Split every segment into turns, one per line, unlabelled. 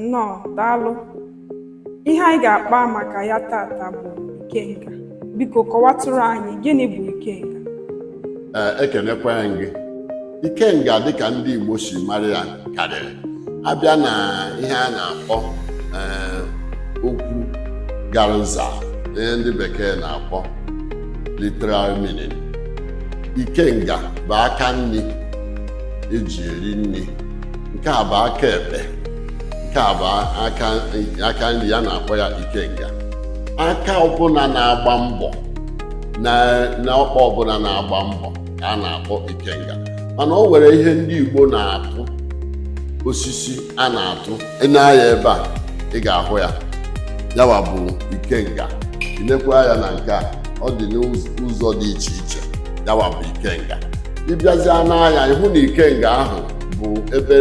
Nnọọ, daalụ. Ihe anyị ga-akpa maka ya tata bụ ikenga. Biko kọwatụrụ anyị gịnị bụ ikenga? Ee, ekenekwa m gị. Ikenga dịka ndị Igbo si mara ya karịrị. Abịa na ihe a na-akpọ ee, okwu gara nza ihe ndị bekee na-akpọ literal meaning. Ikenga bụ aka nni eji eri nni nke a bụ aka ekpe nke a bụ aka aka nni ya na-akpọ ya ikenga aka ọbụla na-agba mbọ na na ọkpa ọbụla na-agba mbọ ka a na-akpọ ikenga mana o nwere ihe ndị Igbo na-atụ osisi a na-atụ i nee anya ebe a ị ga-ahụ ya yawa bụ ikenga inekwaa anya na nke a ọ dị n'ụzọ dị iche iche yawa bụ ikenga ịbịazịa nee anya ịhụ na ikenga ahụ bụ ebe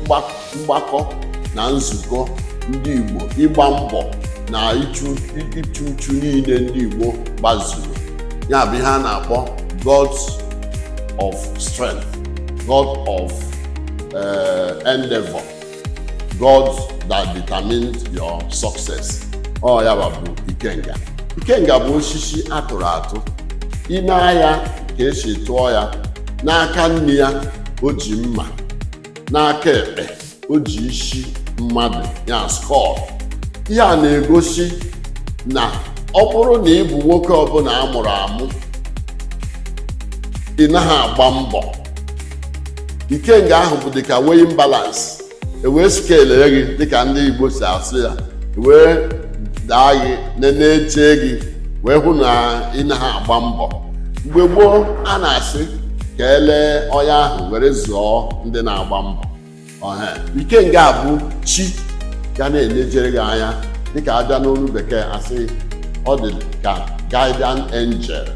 mgbakọ na nzukọ ndị Igbo ịgba mbọ na ịchụ uchu niile ndị Igbo gba nzukọ ya bụ ihe a na-akpọ god of strength god of uh, endeavor God that determines your success ọ ya bụ ikenga ikenga bụ osisi atụrụ atụ i nee anya ka esi tụọ ya n'aka nni ya o ji mma n'aka ekpe o ji isi mmadụ ya skull ihe a na-egosi na ọ bụrụ na ị bụ nwoke ọbụla a mụrụ amụ ị naghị agba mbọ ikenga ahụ bụ dịka weighing balance ewee skelee gị dịka ndị igbo si asụ ya ewee daa gị na-eche gị wee hụ na ị naghị agba mbọ mgbe gboo a na-asị ka elee onye ahụ were zụọ ndị na-agba mbọ ikenga bụ chi ga na-enejere gị anya dịka abịa n'olu bekee asị ọ dị ka guardian angel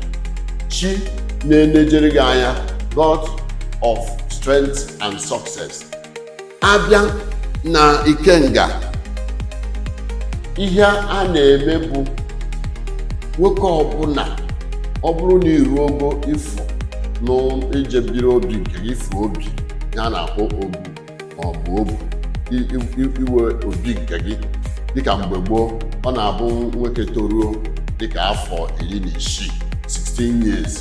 chi na-enejere gị anya god of strength and success abịa na ikenga ihe a na-eme bụ nwoke ọbụla ọ bụrụ na iruo ogo ịfụ na ije biri obi nke ịfụ obi ihe a na-akpọ obu ma ọ bụ obu inwe obi nke gị dịka mgbe gboo ọ na-abụ nwoke toruo dịka afọ iri na isii 16 years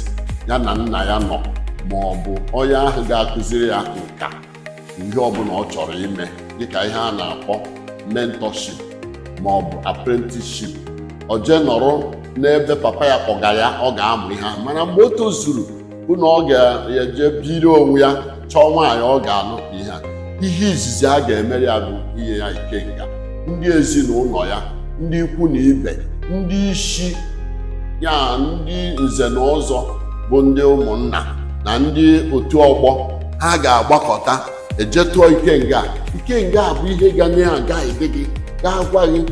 ya na nna ya nọ ma ọ bụ onye ahụ ga-akụziri ya nka ihe ọbụla ọ chọrọ ime dịka ihe a na-akpọ mentorship ma ọ bụ apprenticeship ọ jee nọrọ n'ebe papa ya ọga ya ọ ga-amụ ihe ahụ mana mgbe o tozuru bụ na ọ ga-eje biri onwe ya chọọ nwaanyị ọ ga-alụta ihe a ihe izizi a ga-emere ya bụ inye ya ikenga ndị ezinụlọ ya ndị ikwu na ibe ndị ichie ndị nze na ọzọ bụ ndị ụmụnna na ndị otu ọgbọ ha ga-agbakọta e je tụọ ikenga ikenga a bụ ihe ga na-aguide gị ga-agwa gị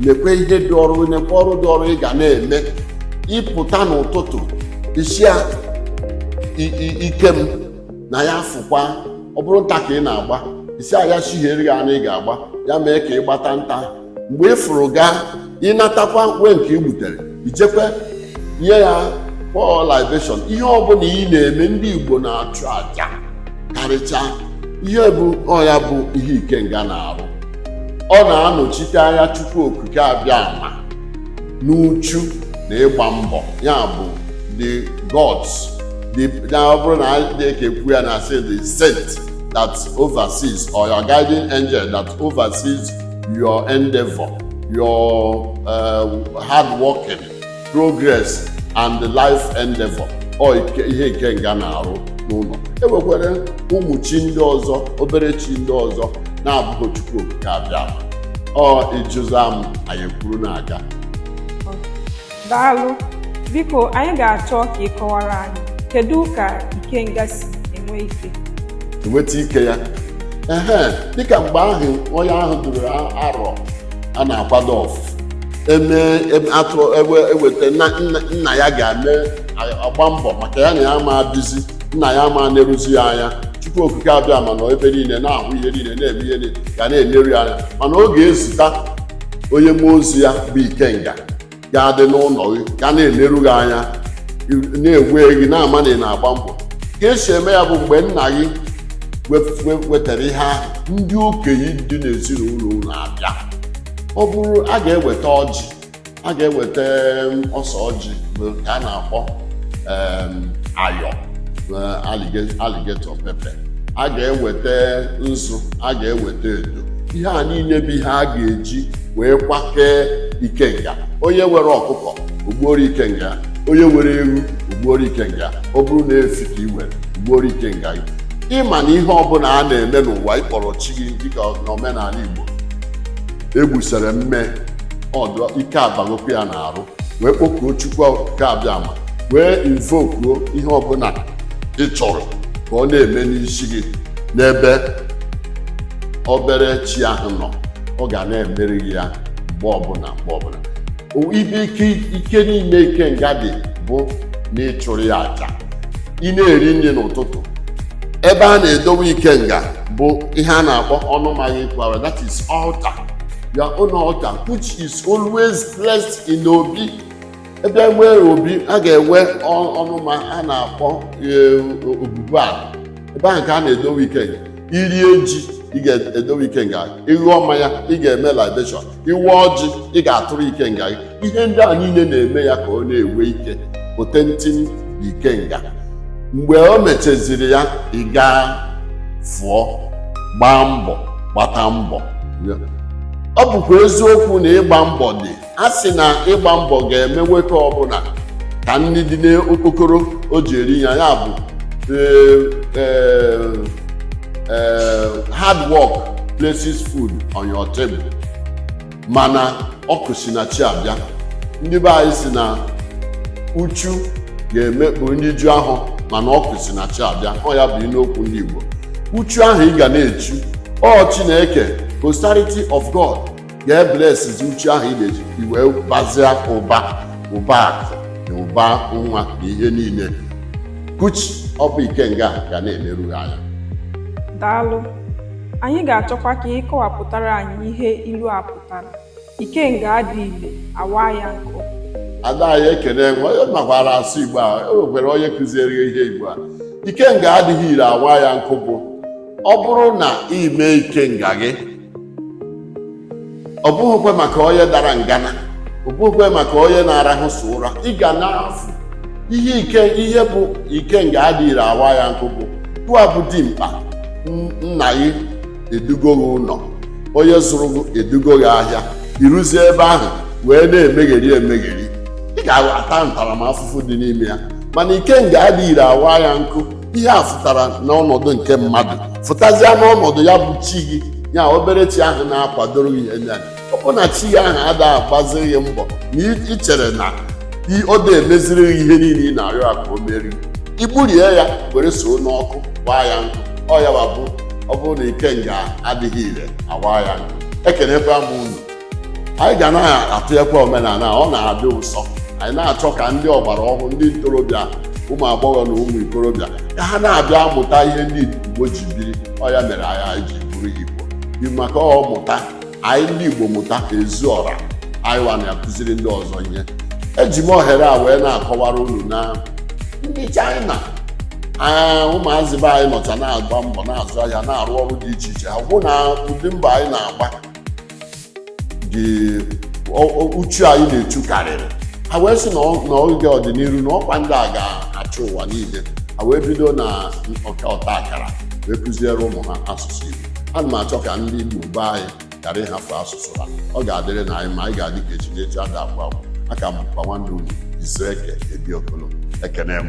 nekwe ihe dị ọrụ nekwe ọrụ dị ọrụ ị ga na-eme ị pụta n'ụtụtụ ị sị ya i- i- ike m na ya fụkwa ọ bụrụ nta ka ị na-agba ị sị ya ya chihiere gị anụ ị ga-agba ya mee ka ị gbata nta mgbe ị fụrụ gaa ị natakwa were nke ị gbutere i jekwa nye ya pour libation ihe ọbụla ị na-eme ndị igbo na-achụ aja karịchaa ihe bụ ọ ya bụ ihe ikenga na-arụ ọ na-anọchite anya chukwu okike abiama n'uchu na ịgba mbọ ya bụ the gods na ọ bụrụ na na-ekwu ya na a sị the saint that oversees or your guiding angel that oversees your endeavor, your uh, hard working, progress, and the life endeavor. Ọ ike- ihe ikenga na-arụ n'ụlọ. E nwekwara ụmụ chi ndị ọzọ, obere chi ndị ọzọ na-abụghị Chukwu okike abiama. Ọ ịjụza m, anyị ekwuru na-aga. Daalụ. Biko, anyị ga-achọ ka ị kọwara anyị kedu ka ikenga si enwe ike? Enweta ike ya. Ehe, dịka mgbe ahụ onye ahụ ruru arọ a na-akwado ọfụ eme atụ eweta nna ya ga-eme agba mbọ maka ya na ya ama ebizi nna ya ama eneruzi ya anya Chukwu okike abiama nọ ebe niile na-ahụ ihe niile na-eme ihe ga na-eneru ya anya mana ọ ga-ezita onye mmụọ ozi ya bụ ikenga ga-adị n'ụlọ gị ga na-eleru gị anya na-ele gị na-ama na ị na-agba mbọ ka e si eme ya bụ mgbe nna gị wetara ihe ahụ ndị okenye dị n'ezinụlọ unu abịa ọ bụrụ a ga-eweta ọjị a ga-eweta ose ọjị nke a na-akpọ ya alligator pepper a ga-eweta nzu a ga-eweta edo ihe a niile bụ ihe a ga-eji wee kwakee ikenga onye nwere ọkụkọ o gbuoro ikenga onye nwere ewu o gbuoro ikenga ọ bụrụ na efi ka ị nwere i gbuoro ikenga gị ị ma na ihe ọbụla a na-eme n'ụwa ị kpọrọ chi gị dịka n'omenala Igbo e gbusara mme ọ dị ike abagokwu ya na-arụ wee kpọkuo Chukwu okike abiama wee invokuo ihe ọbụla ị chọrọ ka ọ na-eme n'isi gị n'ebe obere chi ahụ nọ ọ ga na-emeri gị ya mgbe ọbụla mgbe ọbụla O- ebe ike ike niile ikenga dị bụ na ị chụrụ ya aja ị na-eri nri n'ụtụtụ ebe a na-edowe ikenga bụ ihe a na-akpọ ọnụma gị ekwu aja that is altar your own altar which is always placed in obi ebe e nwee obi a ga-enwe ọ- ọnụma a na-akpọ eh, obubu ala ebe ahụ ka a na-edowe ikenga i rie ji ị ga-edowe ikenga gị ị ṅụọ mmanya ị ga-eme libation i wee ọjị ị ga-atụrụ ikenga gị ihe ndị a niile na-eme ya ka ọ na-enwe ike potency na ikenga mgbe o mechaziri ya ị gaa fụọ gbaa mbọ gbata mbọ ọ bụkwa eziokwu na ịgba mbọ dị a sị na ịgba mbọ ga-eme nwoke ọbụla ka nri dị n'okpokoro o ji eri ya ya bụ eh, eh, eh, hard work places food on your table mana akụ si na chi abịa ndị be anyị sị na uchu ga-emekpu nri ju afọ mana akụ si na chi abịa ọ ya bụ n'okwu ndị Igbo uchu ahụ ị ga na-echu ọ Chineke posterity of God ga-eblessizi uchu ahụ ị na-echu i wee bazịa ụba ụba akụ na ụba nwa na ihe niile kuchi ọ bụ ikenga ga na-eleru gị anya daalụ anyị ga-achọkwa ka ị kọwapụtara anyị ihe ilu a pụtara ikenga adị ile a waa ya nkụ ada anyị ekene nwe ị makwara asụ igbo a e nwekwara onye kuziere gị ihe igbo a ikenga adịghị ire a waa ya nkụ bụ ọ bụrụ na ị mee ikenga gị ọ bụghịkwa maka onye dara ngana ọ bụghịkwa maka onye na-arahụ so ụra ị ga na-afụ ihe ike ihe bụ ikenga adịghị ire a waa ya nkụ bụ gụwa bụ dimkpa n- nna gị edugo gị ụlọ onye zụrụ gị edugo gị ahịa i ruzie ebe ahụ wee na-emegheri emegheri ị ga-ata ntaramafụfụ dị n'ime ya mana ikenga adịghị ire a waa ya nkụ ihe a fụtara n'ọnọdụ nke mmadụ fụtazịa n'ọnọdụ ya bụ chi gị ya obere chi ahụ na-akwadoro gị ihe nya ọ bụrụ na chi gị ahụ adịghị agbaziri gị mbọ na i- i chere na i- ọ dịghị emeziri gị ihe niile ị na-arịọ ya ka o meeri i gburie ya were soo n'ọkụ waa ya nkụ ọ ya bụ ọ bụrụ na ikenga adịghị ire a waa ya nkụ ekenekwa m unu anyị ga na-atụnyekwa omenala ọ na-adị ụsọ anyị na-achọ ka ndị ọgbara ọhụrụ ndị ntorobịa ụmụ agbọghọ na ụmụ ikorobịa ka ha na-abịa amụta ihe ndị Igbo ji biri ọ ya mere anyị ji bụrụ Igbo dị maka ọ mụta anyị ndị Igbo mụta ezi ọra anyị wa na-akụziri ndị ọzọ ihe eji m ohere a wee na-akọwara unu na ndị China ụmụazị be anyị nọcha na-agba mbọ na-azụ ahịa na-arụ ọrụ dị iche iche ha hụ na ụdị mbọ anyị na-agba dị uchu anyị na-echu karịrị ha wee sị na oge ọdịnihu na ọ kwa ndị a ga-achị ụwa niile ha wee bido na ọta akara wee kụziere ụmụ ha asụsụ Igbo ana m achọ ka ndị Igbo be anyị ghara ịhafụ asụsụ ha ọ ga-adịrịnụ anyị mma anyị ga-adị ka echi na echi ada agwụ agwụ aka m kwa nwanne unu Izueke Ebi Okolo ekene m